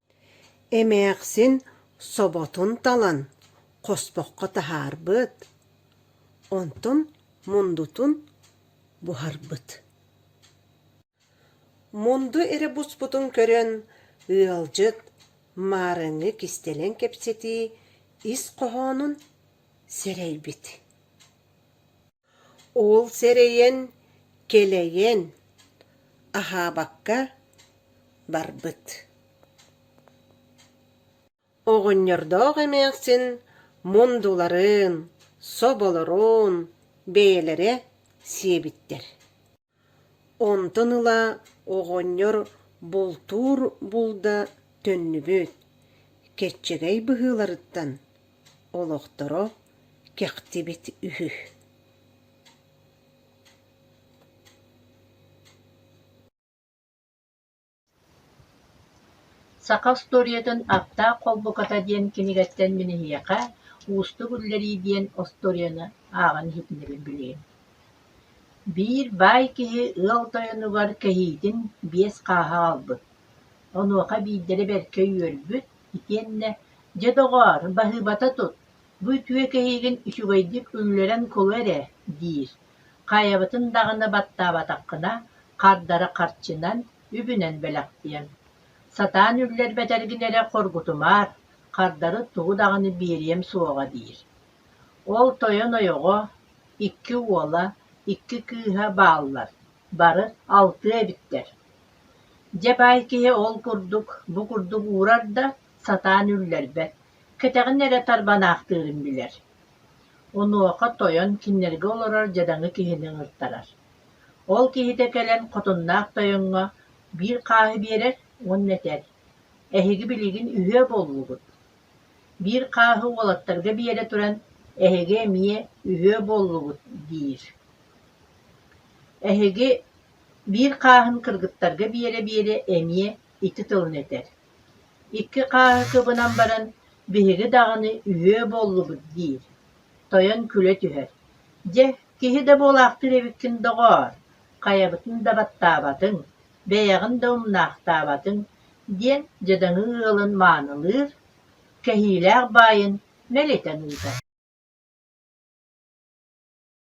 Эмээхсин соботун талан хоспоххо таһаарбыт, онтон мундутун буһарбыт Мунду эрэ буспутун көрөн, ыалдьыт маарыҥҥы кистэлэҥ кэпсэтии ис хоһоонун сэрэйбит Ол сэрэйэн, кэлэйэн, аһаабакка барбыт Оҕонньордоох эмээхсин мундуларын, соболорун бэйэлэрэ сиэбиттэр Онтон ыла оҕонньор бултуур булда төннүбүт, кэччэгэй быһыыларыттан олохторо кэхтибит үһү Саха устуоруйатын «Аптаах холбуката» диэн кинигэттэн мин эһиэхэ «Уустук үллэрии» диэн остуоруйаны ааҕан иһитиннэрин билиэм. Биир баай киһи ыал тойонугар кэһиитин биэс хааһа аҕалбыт. Онуоха биирдэрэ бэркэ үөрбүт итиэннэ «Дьэ, доҕоор, баһыыбата тут, бу үтүө кэһиигин үчүгэйдик үллэрэн кылы эрэ» диир. Хайабытын даҕаны баттаабатаххына, хардары харчынан, үбүнэн бэлэхтиэм. Сатаан үллэрбэт эргин эрэ хоргутумаар, хардары тугу даҕаны биэриэм суоҕа диир. Ол тойон ойоҕо, икки уола, икки кыыһа бааллар, бары алтыа эбиттэр. Дьэ баай киһи ол курдук, бу курдук уурар да, сатаан үллэрбэт, кэтэҕин эрэ тарбанаахтыырын билэр. Онуоха тойон кинилэргэ олорор дьадаҥы киһини ыҥыртарар. Ол киһитэ кэлэн хотуннаах тойоҥҥо биир хааһы биэрэр уонна этэр: «Эһиги билигин үһүө буоллугут?» Биир хааһы уолаттарга биэрэ туран: «Эһиги эмиэ үһүө буоллугут» диир. Эһиги биир хааһын кыргыттарга биэрэ-биэрэ эмиэ ити тылын этэр Икки хааһы кыбынан баран «биһиги даҕаны үһүө буоллубут» диир, тойон күлэ түһэр: «Дьэ, киһи да буолаахтыыр эбиккин доҕоор, хайабытын да баттаабатыҥ, бэйэҕин да умнаахтаабатыҥ» диэн дьадаҥы ыалын маанылыыр, кэһиилээх баайын мэлитэн ыытар.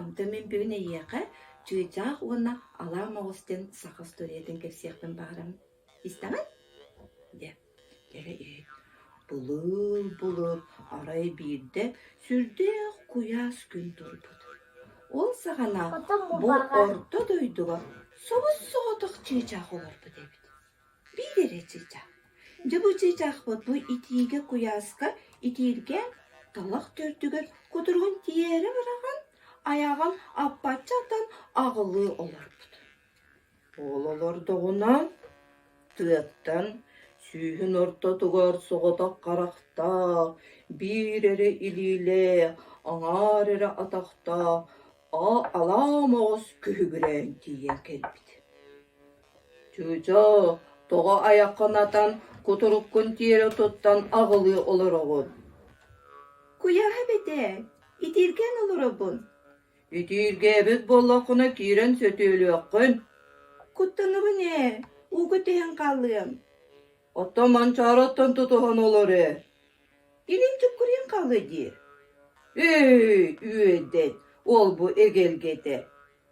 Онтон мин бүгүн эйиэхэ чыычаах уонна алаа моҕос диэн саха устуоруйатын кэпсиэхпин баҕарам. Истэҕин? диэ. Дьэ былыр былыр арай биирдэ сүрдээх куйаас күн турбут. Ол саҕана бу орто дойдуга собус соҕотох чыычаах олорбут эбит. Биир эрэ чыычаах, дьабы чыычаахпыт бу итиигэ куйааска итииргэ талах төрдүгэр кутуругун тиэрэ быраҕан, айаҕын аппаччы атан аҕылыы олорбут. Ол олордоҕуна тыаттан сүүһүн ортотугар соҕотох харахтаах, биир эрэ илиилээх, аҥаар эрэ атахтаах, алаам оҕус күһүгүрээн тиийэн кэлбит Чыычаа, тоҕо айаххынатан кутуруккун тиэрэ туттан аҕылыы олороҕун? Куйааһа бэтээ, итииргээн олоробун. Итииргээбит буоллаххына киирэн сөтүөлүөххүн. Куттанабын ээ, ууга түһэн хаалыам. Оттон Манчаараттан тутуһан олор ээ. Илин дьуккуруйан хаалыа дии. Эй, үөдэн, ол-бу эгэлгэтэ.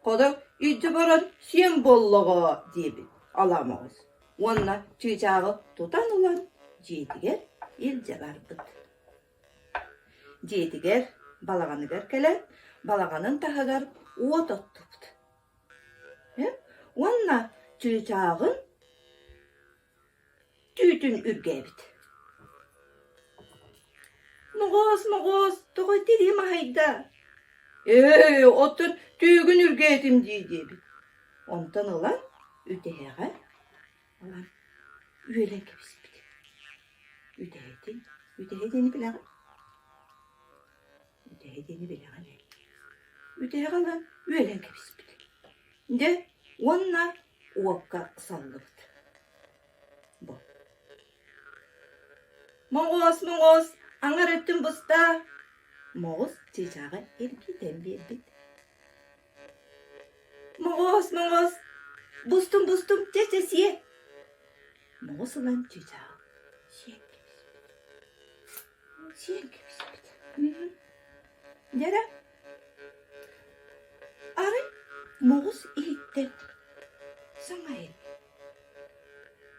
Хоно илдьэ баран сиэн буоллаҕоо диэбит Аламаҕыс уонна чыычааҕы тутан ылан дьиэтигэр илдьэ барбыт. Дьиэтигэр балаҕаныгар кэлэн балаҕанын таһыгар уот оттубут. Уонна чыычааҕын Түүтүн үргээбит: «Моҕоос, моҕоос, тоҕо итирии маһыйда?» «Ээ, оттон түөгүн үргээтим дии» диэбит. Онтон ылан үтэһэҕэ ылан үөлэн кэбиспит. Үтэһэтин, үтэһэтин билэҕин? Бүтэһик диэни билэҕин эллиэс. Бүтэһик ылан үөлэн кэбиспит. Дьэ уонна уокка саллыбыт. Бу. Моҕоос, моҕоос, аҥар өттүн быстаа. Моҕус чыычааҕа эргитэн биэрбит. Моҕоос, моҕоос, бустум, бустум, чэчэ сиэ. Моҕус ылан чыычааҕа сиэн кэбиспит. Дьара, арай моҕус иһиттэн саҥайын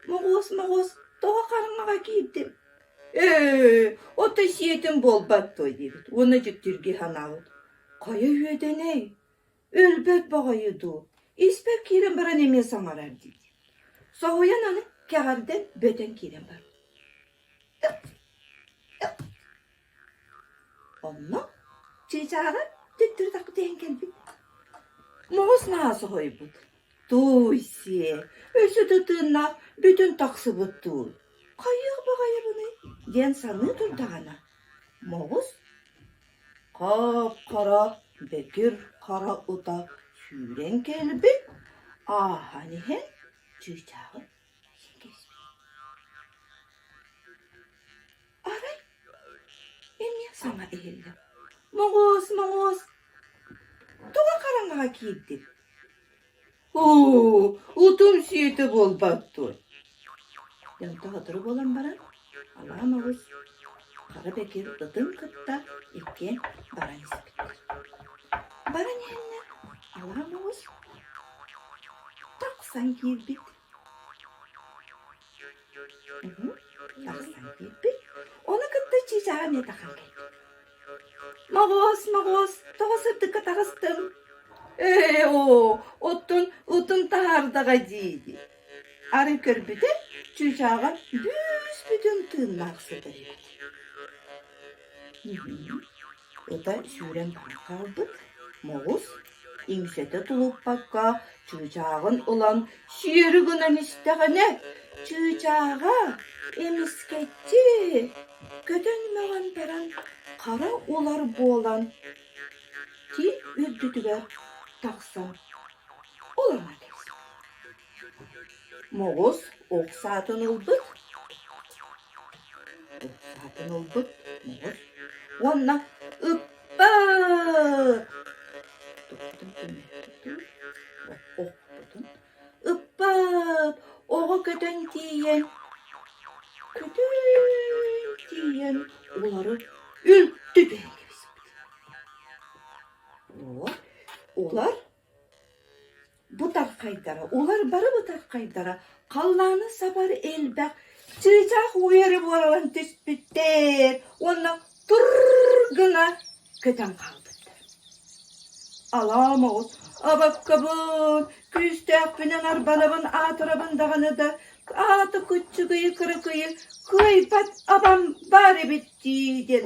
моҕуос-моҕуос тоҕо хараҥаҕа киирдиҥ ээ отой сиэтин буолбат дуо диэбит уонна дьиктиргии санаабыт хайа үөдэнэй Өлбөт боҕойу дуу, испэк киирэн баран эмиэ саҥарар дии. Соһуйан аны кэҕэрдэн бөтөн киирэн барар. Онно чыычаара төттөрүтахпыт иһэн кэлбит. Муус наасы хойбут. Тууй сиэ, өссө да тыыннаах бүтүн тахсыбыт туу. Хайыах баҕайыбыный диэн саныы турдаҕына, Моҕус Хоп-хоро, бөтүр хоро ута сүүрэн кэлбит, ааһан иһэн чыычааҕын эйэ кэспит. Арай эмиэ саҥа иһиллэ. Моҕуос, моҕуос, туга хараҥаҕа киирдин? Оо, утум сиэтэ буолбаккын. Дьонто сотору буолан баран, алаам оҕус Хара Бэкир ытын кытта иккиэн баран испиттэр. Баран иһэннэр алаам оҕус тахсан киирбит. Оны кытта чыычааҕа эмиэ тахаабыт. Моҕоос, моҕоос, тоҕо сырдыкка таҕыстым? Ээ, оо, оттон отун таһаардаҕа дии-дии. Арай көрбүтэ, чыычааҕа бүүс бүтүн тыыннаах сытар эбит. Ыта сүүрэн баран хаалбыт Моҕус иҥсэтэ тулуппакка чыычааҕын ылан сиэри гынан истэҕинэ чыычааҕа эмискэччи көтөн-мөҕөн баран хара улар буолан тиит үрдүтүгэр тахсан олоро түс Моҕус ох саатын ылбыт, ох саатын ылбыт моҕус уонна ыппыт. Туппутун түмүктүтүр, охпутун ыппыт. Оҕо көтөн тиийэн, күтүн тиийэн улары үлтү түһэн кэбиспит. Олор, олор Бу тархайдара, улар бары бытархайдара халлааны сабар элбэх чыычаах уйары буолан түспүттэр уонна тур гына көтөн хаалбыттар. Алаа моҕус абаккабын, күүстээхпинэн арбалабын аатырабын даҕаны да аата куччугуйу-кырыкыйы кыайбат абам баар эбит дии диэн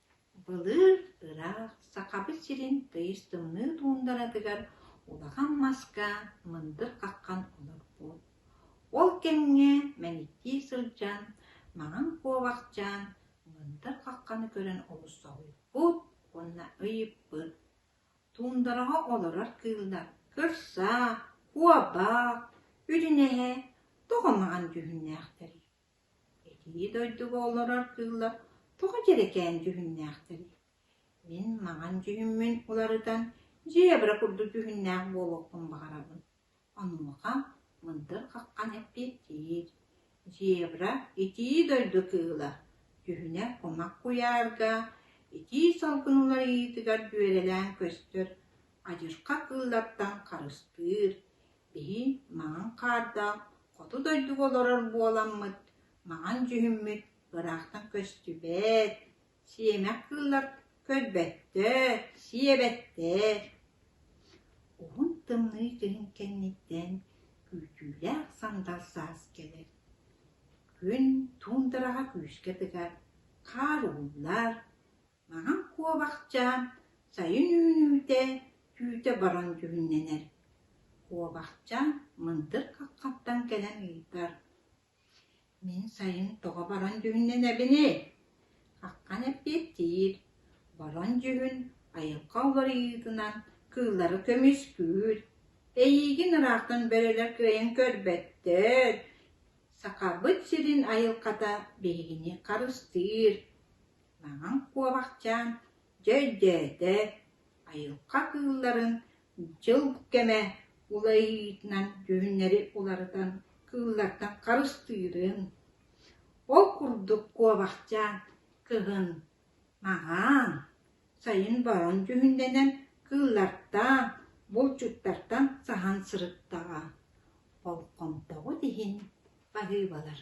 Былыыр ыраах Сахабыт сирин тыйыс тымныы туундаратыгар улахан маска мындыр хаххан олорбут. Ол кэмҥэ мэниктии сылдьан, маҥан куобахчаан мындыр хахханы көрөн олус соһуйбут уонна ыйыппыт: «Туундараҕа олорор кыыллар кырсаа, куобаах, үрүнэһэ тоҕо маҥан дьүһүннээхтэрий?» Итии дойдуга олорор кыыллар тоҕо дьэрэкээн дьүһүннээхтэрий? Мин маҥан дьүһүммүн уларытан дьиэбэрэ курдук дьүһүннээх буолуохпун баҕарабын. Онуоха мындыр хаххан эппиэттиир: «Зебра – итии дойду кыыла, дьүһүнэ кумах куйаарга, итии салгын уларыйыытыгар дьүөрэлээн көстөр, адьырҕа кыыллартан харыстыыр, Бии маҥан хаардаах хоту дойдуга олорор буоламмыт, маҥан дьүһүммүт ыраахтан көстүбэт, сиэмэх кыыллар көрбөттөр, сиэбэттэр уһун тымныы киһин кэнниттэн күүтүүлээх сандал саас кэлэр. Күн туундараҕа күүскэ тыгар, хаар ууллар Маҥан куобахчаан сайын үүнүүтэ түүтэ баран дьүһүннэнэр. Куобахчаан мындыр хаххаттан кэлэн ыйытар: «Мин сайын тоҕо баран дьүһүннэнэбиний?» Хаххан эппиэттиир: «Баран дьүһүн айылҕа уларыйыытынан кыыллары көмүскүүр. Эйиигин ыраахтан бөрөлөр кыайан көрбөттөр. Сахабыт сирин айылҕата биһигини харыстыыр». Маҥан Куобахчаан дьэ өйдөөтө, айылҕа кыылларын дьыл кэмэ уларыйыытынан дьүһүннэри уларытан кыыллартан харыстыырын, ол курдук Куобахчаан кыһын, маҥан, сайын борон дьүһүннэнэн кыыллартан, булчуттартан саһан сырыттаҕа, болҕомтоҕут иһин, баһыыбалар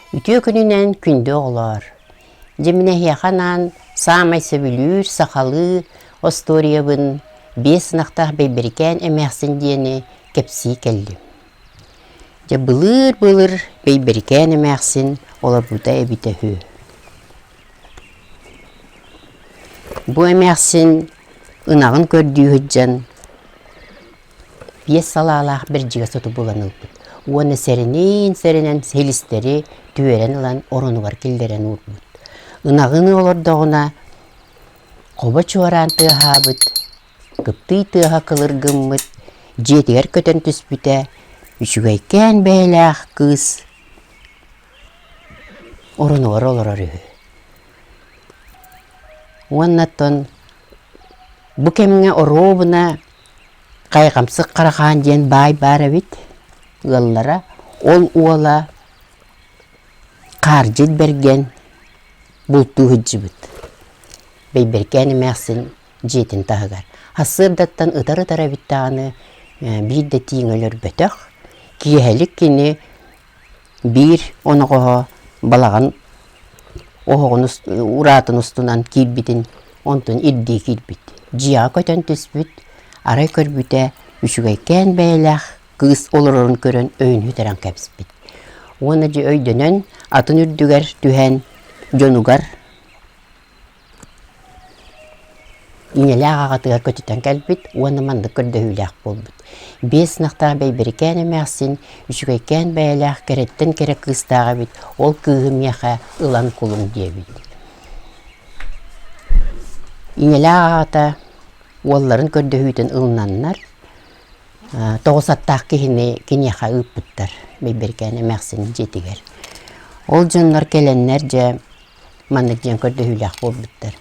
Үтүө күнүнэн күндү оҕолоор! Дьиминэһиэхэ анаан саамай сөбүлүүр сахалыы остуоруйабын биэс ынахтаах бэйбэрикээн эмээхсин диэни кэпсии кэллим. Дьэ былыр-былыр бэйбэрикээн эмээхсин олорбута эбитэ үһү. Бу эмээхсин ынаҕын көрдүү сылдьан биэс салаалаах бэрдьигэ соту булан ылбыт уонна сэриниин сэрэнэн силистэри түөрэн ылан оронугар киллэрэн уурбут. Ынаҕыны олордоҕуна хобо чуораан тыаһаабыт, кыптый тыаһа кылыргыммыт, дьиэтигэр көтөн түспүтэ үчүгэйкээн бэйэлээх кыыс Орунугар олорор үһү. Уонна оттон бу кэмҥэ оруобуна Хайҕамсык Харахаан диэн баай баар эбит ыаллара. Ол уола Хаардьыт Бэргэн бултуу сылдьыбыт. Бэйбэркээн эмээхсин дьиэтин таһыгар. Сарсыардаттан ытар-ытар эбит даҕаны биир да тииҥ өлөрбөтөх. Киэһэлик кини Биир оноҕоһо балаҕан оһоҕун ураатын устунан киирбитин онтун ирдии киирбит. Дьиэҕэ көтөн түспүт, арай көрбүтэ үчүгэйкээн бэйэлээх кыыс олорорун көрөн өйүн үтэрэн кэбиспит. Уонна дьэ өйдөнөн атын үрдүгэр түһэн дьонугар Ийэлээх аҕатыгар көтүтэн кэлбит уонна маннык көрдөһүүлээх буолбут. Биэс ынахтаах Бэйбэрикээн эмээхсин үчүгэйкээн бэйэлээх кэрэттэн кэрэ кыыстаах эбит. Ол кыыһы миэхэ ылан кулум диэбит. Ийэлээх аҕата уолларын көрдөһүүтүн ылынаннар тоҕус аттаах киһини киниэхэ ыыппыттар Бэйбэрикээн эмээхсин дьиэтигэр. Ол дьоннор кэлэннэр дьэ Маннык диэн көрдөһүүлээх буолбуттар.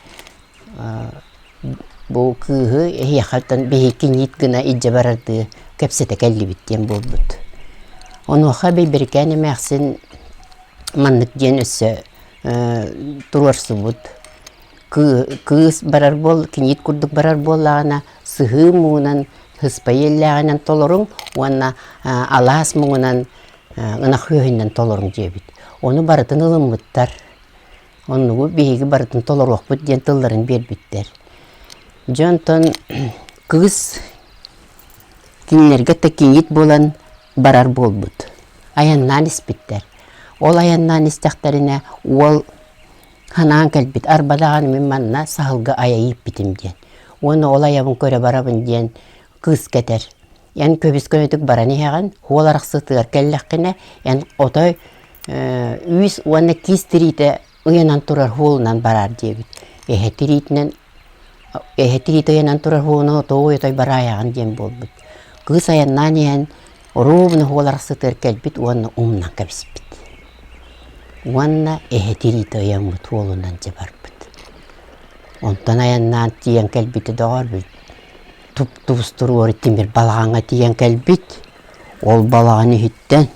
Бу кыыһы эһиэхэттэн биһикиниит гына илдьэ барардыы кэпсэтэ кэллибит диэн буолбут. Онуоха Бэйбэрикээн эмээхсин маннык диэн өссө туруорсубут. Кыыс барар буол, киниит курдук барар буоллаҕына, сыһыы муҥунан, һыспа иэллээҕинэн толоруҥ уонна алаас муҥунан ынах үөһүнэн толоруҥ диэбит. Ону барытын ылыммыттар. Оннугу биһиги барытын толоруохпут диэн тылларын биэрбиттэр. Дьэ онтон кыыс кинилэргэ такиит буолан барар буолбут. Айаннаан испиттэр. Ол айаннаан истэхтэринэ уол ханаан кэлбит арба даҕаны мин манна саһылга айа ииппитим диэн. Уонна ол айабын көрө барабын диэн кыыс кэтэр. Эн көбүскөнүтүк баран иһэҕин, уол арахсытыгар кэллэххинэ, эн отой үүс уонна киис тириитэ ыйанан турар уолунан бараар диэбит. Эһэ тириитинэн эһэ тириитэ ыйанан турар уону тоой-отой бараайаҕын диэн буолбут. Кыыс айаннаан иһэн оруобуна уол арахсытыгар кэлбит уонна умнан кэбиспит. Уонна эһэ тириитэ ыйаммыт уолунан дьабарбыт. Онтон айаннаан тиийэн кэлбитэ доҕорбут. туп-тубустур уорут тимир балаҕаҥҥа тиийэн кэлбит. Ол балаҕан иһиттэн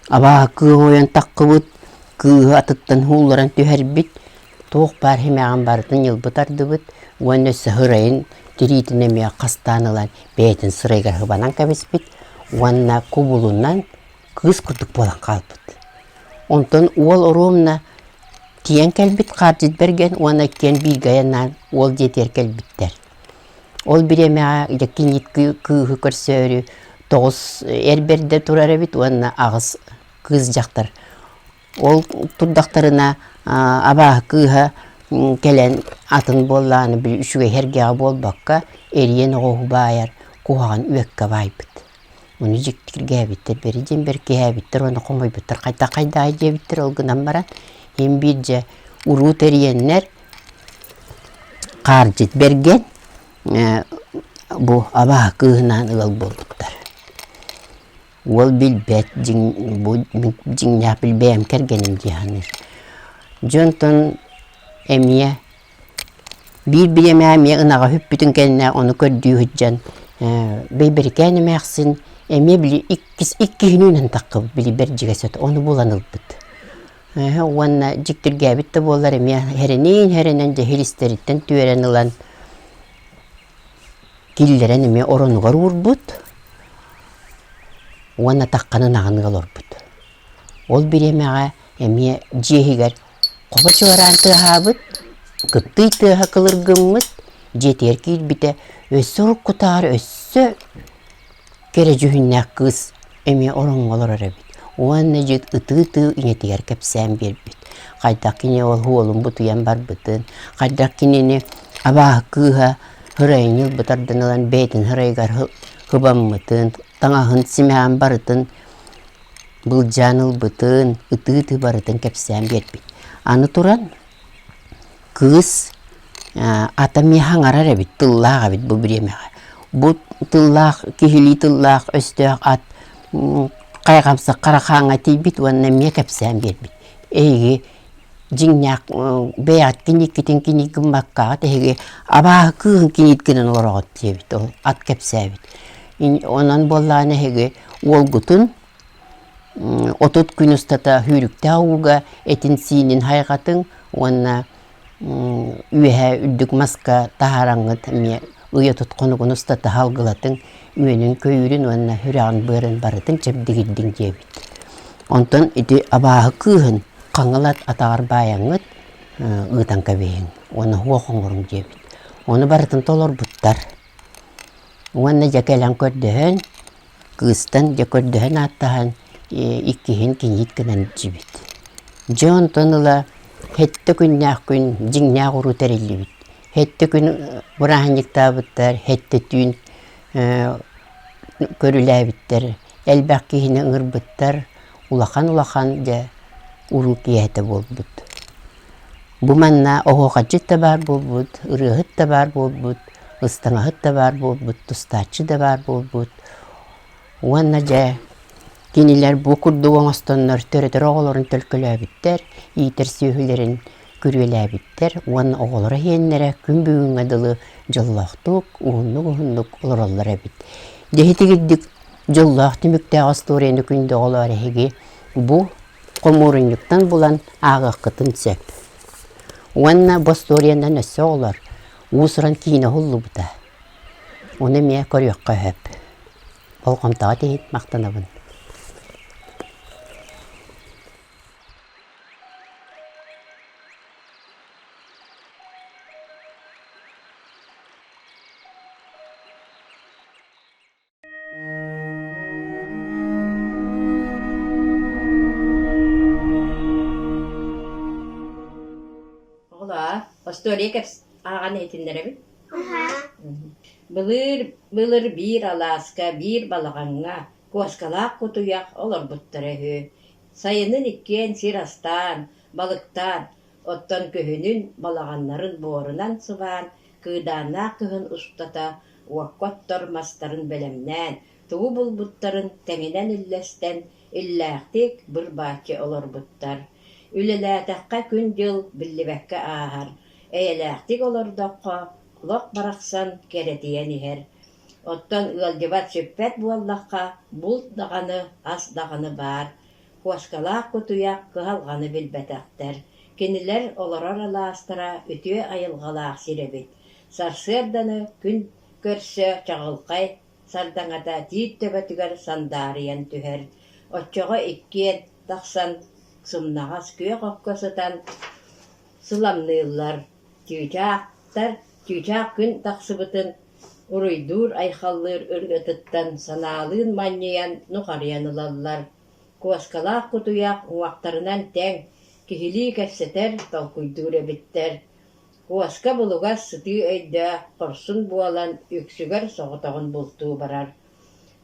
абааһы кыым ойон таххыбыт, кыыһы атыттан уулларан түһэрбит. Туох баар химээҕин барытын ньылбы тардыбыт уонна сыһырайын тириитин эмиэ хастаан ылан бэйэтин сырайыгар хыбанан кэбиспит уонна кубулунан кыыс курдук буолан хаалбыт. Онтон уол оруомна тиийэн кэлбит хаардьыт бэргэн уонна иккиэн бииргэ айаннаан уол дьиэтигэр кэлбиттэр. Ол бириэмэҕэ дьэки илиит кыыһы көрсөөрү тоҕус эр бэрдэ турар эбит уонна аҕыс кыыс дьахтар. Ол турдахтарына абааһы кыыһа кэлэн атын буоллаҕына били үчүгэй эргэҕэ буолбакка эрийэн оҕуһу баайар куһаҕан үөккэ баайбыт Ону дьикти киргээбиттэр, бэри диэн бэркиһээбиттэр уонна хомойбуттар, хайда хайдаай диэбиттэр. Ол гынан баран иһин биирдэ уруу тэрийэннэр хаалдьыт бэргэн бу абааһы кыыһынаан ыал буолбуттар. Уол билбэт дьиҥ бу мин дьиҥнээх бэйэм кэргэним дии саныыр. Дьэ онтон эмиэ Биир бириэмэ эмиэ ынаҕа үһүппүтүн кэннэ ону көрдүү сылдьан Бэйбэрикээн эмээхсин эмиэ били иккис иккиһинүүнэн таххыбыт били Бэрдьигэсэт ону булан ылбыт уонна дьиктиргээбит да буоллар эмиэ сэрэнэн сэрэнэн дьэһир истэриттэн түөрэн ылан киллэрэн эмиэ оронугар уурбут уонна тахханы ынаҕыныы олорбут ол бириэмэҕэ эмиэ дьиэ иһигэр хомо чуораан тыаһаабыт, кыптыый тыаһа кылыргыммыт, дьиэтигэр киирбитэ өссө уруккутаары өссө кэрэ дьүһүннээх кыыс эмиэ ороҥҥо олорор эбит уонна дьиэт ытыы-ытыы ийэтигэр кэпсээн биэрбит. Хайдах кини ол уолун бутуйан барбытын, хайдах кинини абааһы кыыһа һырайыны ылбытардан ылан бэйэтин һырайыгар һыбаммытын, таҥаһын симээн барытын былдьаан ылбытын, ытыы-ытыы барытын кэпсээн биэрбит. Аны туран, кыыс атам иһэ аҥарар эбит, тыллаах эбит бу бириэмэҕэ. Бу тыллаах, киһилии тыллаах, өстөөх ат хайҕамсык харахааҥҥа тиийбит уонна эмиэ кэпсээн биэрбит. Эһиги дьиҥнээх бэйэҕиттэн иккитин кинигэ гыммаккаҕыт, эһиги абааһы кыыһын киниит гынан олороҕут диэбит, ол ат кэпсээбит. Онон буоллаҕына эһиги Уолгутун отут күн устата үүрүктээх ууга этин-сиинин хайҕатыҥ уонна үөһэ үрдүк маска таһараҥҥыт эмиэ ыйа тут хонугун устата салгылатыҥ, үөнүн-көйүүрүн уонна үрэҕин-быарын барытын чэбдигирдиҥ диэбит. Онтон ити абааһы кыыһын хаҥылат атаҕар баайаҥҥыт ыытан кэбиһиҥ уонна оһуох оҥоруҥ диэбит. Ону барытын толорбуттар. Уонна дьэ кэлэн көрдөһөн, кыыстан дьэ көрдөһөн ааттаһан, иккиһин киниит гынан илдьибит. Дьэ онтон ыла хэттэ күннээх күн дьиҥнээх уруу тэриллибит. Хэттэ күн бырааһынньыктаабыттар, хэттэ түүн көрүлээбиттэр. элбэх киһини ыҥырбыттар улахан-улахан дьэ уруу киэһэтэ буолбут. Бу манна оһуохайчыт да баар буолбут, ырыаһыт да баар буолбут, ыстаҥаһыт да баар буолбут, тустааччы да баар буолбут. Уонна дьэ кинилэр бу курдук оҥостоннор төрөтөр оҕолорун төлкөлөөбүттэр, иитэр сүөһүлэрин күрүөлээбиттэр уонна оҕолоро иһиэннэрэ күн бүгүҥҥэ дылы дьоллоохтук, ууннук-уһуннук олороллор эбит. Дьэ итигирдик дьоллоох түмүктээх остуоруйаны күндү оҕолоор эһиги бу хомуурунньуктан булан ааҕыаххытын сөп. Уонна бу остуоруйанан өссө оҕолор уус-уран киинэ уһуллубута. Ону эмиэ көрүөххэ сөп. Болҕомтоҕут иһин махтанабын. Остуоликепс ааҕан иһитиннэрэбит. Былыр былыр биир алааска, биир балаҕаҥҥа куоскалаах кутуйах олорбуттара үһү. Сайынын иккиэн сир астаан, балыктаан, оттон күһүнүн, балаҕаннарын буорунан сыбаан, кыыдааннаах кыһын устата уокка оттор мастарын бэлэмнээн, тугу булбуттарын тэҥинэн үллэстэн, иллээхтик быр-бааччы олорбуттар. Үлэлээтэххэ күн-дьыл биллибэккэ ааһар, эйэлээхтик олордоххо, олох барахсан кэрэтийэн иһэр. Оттон ыалдьыбат сүппэт буоллахха, булт даҕаны, ас даҕаны баар, кошкалаах кутуйах кыһалҕаны билбэтэхтэр, кинилэр олорор алаастара үтүө айылҕалаах сир эбит, сарсыарданы күн көрсө чаҕылхай сардаҥата тиит төбөтүгэр сандаарыйан түһэр, оччоҕо иккиэн тахсан сымнаҕас күөх окко сытан сыламныыллар. Чыычаахтар чыычаах күн тахсыбытын уруйдуур-айхаллыыр ырыатыттан санаалыын манньыйан нухарыйан ылаллар, куоскалаах кутуйах уҥахтарынан тэҥ киһилии кэпсэтэр, толкуйдуур эбиттэр. Куоска булугас сытыы өйдөөх хорсун буолан үксүгэр соҕотоҕун бултуу барар.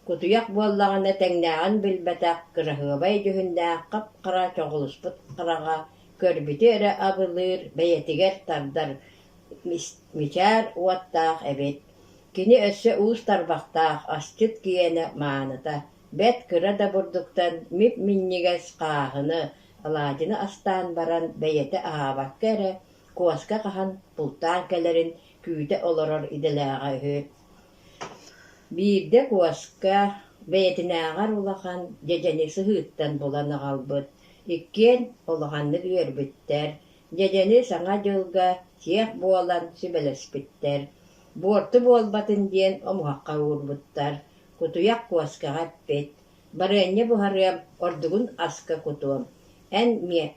Кутуйах буоллаҕына тэҥнээҕин билбэтэх кыраһыабай дьүһүннээх хап-хара чоҕулуспут хараҕа көрбүтү эрэ абылыыр, бэйэтигэр тардар мичээр уоттаах эбит. Кини өссө уус тарбахтаах, асчыт киэнэ, мааныта, бэрт кыра да бурдуктан мип-минньигэс хааһыны, алаадьыны астаан баран бэйэтэ аһаабакка эрэ куоска хаһан бултаан кэлэрин күүтэ олорор идэлээҕэ үһү. Биирдэ куоска бэйэтинээҕэр улахан дьэдьэни сыһыыттан булан аҕалбыт Иккиэн улаханнык үөрбүттэр, дьэдьэни Саҥа дьылга сиэх буолан сүбэлэспиттэр, буорту буолбатын диэн омуһахха уурбуттар, кутуйах куоскаҕа эппит, «Барыанньа буһарыам, ордугун аска кутуом, эн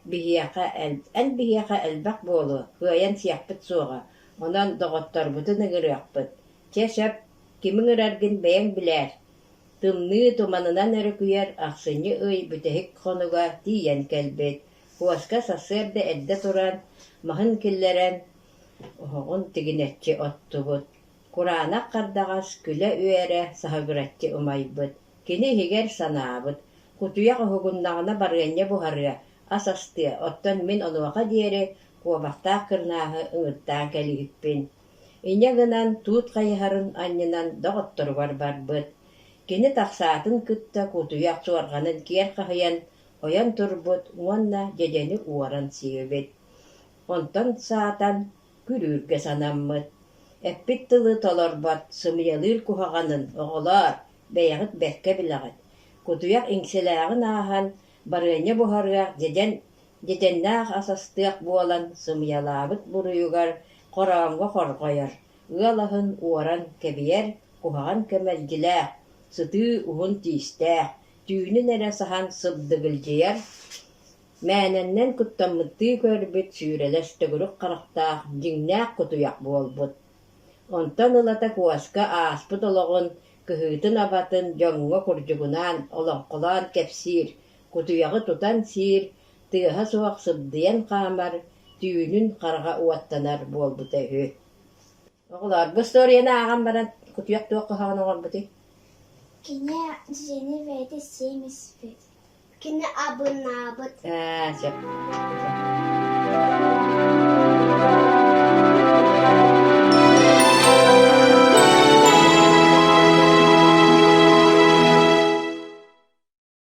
биһиэхэ эн биһиэхэ элбэх буолуо, кыайан сиэхпит суоҕа, онон доҕотторбутун ыҥырыахпыт, чэ сөп, ким ыҥыраргын бэйэҥ билээр» Тымныы туманынан өрүкүйэр ахсынньы ый бүтэһик хонуга тиийэн кэлбит, куоска сарсыарда эрдэ туран, маһын киллэрэн, оһоҕун тигинэччи оттубут. Кураанах хардаҕас күлэ-үөрэ саһыгыраччы умайбыт. Кини иһигэр санаабыт: кутуйах уһугуннаҕына барыанньа буһарыа, ас астыа, оттон мин онуоха диэри куобахтаах кырнааһы ыҥыртаан кэбиһиппин Инньэ гынан туут хайыһарын анньынан доҕотторугар барбыт, кини тахсаатын кытта кутуйах суорҕанын киэр хаһыйан ойон турбут уонна дьэдьэни уоран сиэбит, онтон саатан күрүүргэ санаммыт, эппит тылы толорбот сымыйалыыр куһаҕанын оҕолоор, бэйэҕит бэркэ билэҕит, кутуйах иҥсэлээҕин ааһан барыанньа буһарыах дьэдьэн Дэтэннээх ас астыах буолан сымыйалаабыт буруйугар хороомго хорҕойор, ыал аһын уоран кэбиьэр куһаҕан кэмэлдьилээх, сытыы уһун тиистээх, түүнүн эрэ саһан сыбдыгылдьыйар, мээнэннэн куттаммыттыы көрбүт сүүрэлэс төгүрүк харахтаах дьиҥнээх кутуйах буолбут. Онтон ылата куоска ааспыт олоҕун, кыһыытын-абатын дьоҥҥо курдьугунаан олоҥхолоон кэпсиир, кутуйаҕы тутан сиир, тыаһа суох сыбдыйан хаамар, түүнүн хараҕа уоттанар буолбута үһү. Оҕолоор, бу историяны ааҕан баран, кутуйах туох хоһоон оҥорбутуй? Кини дьиэни бэйэтэ сиэм испит. Кини абынаабыт. Аа, сөп.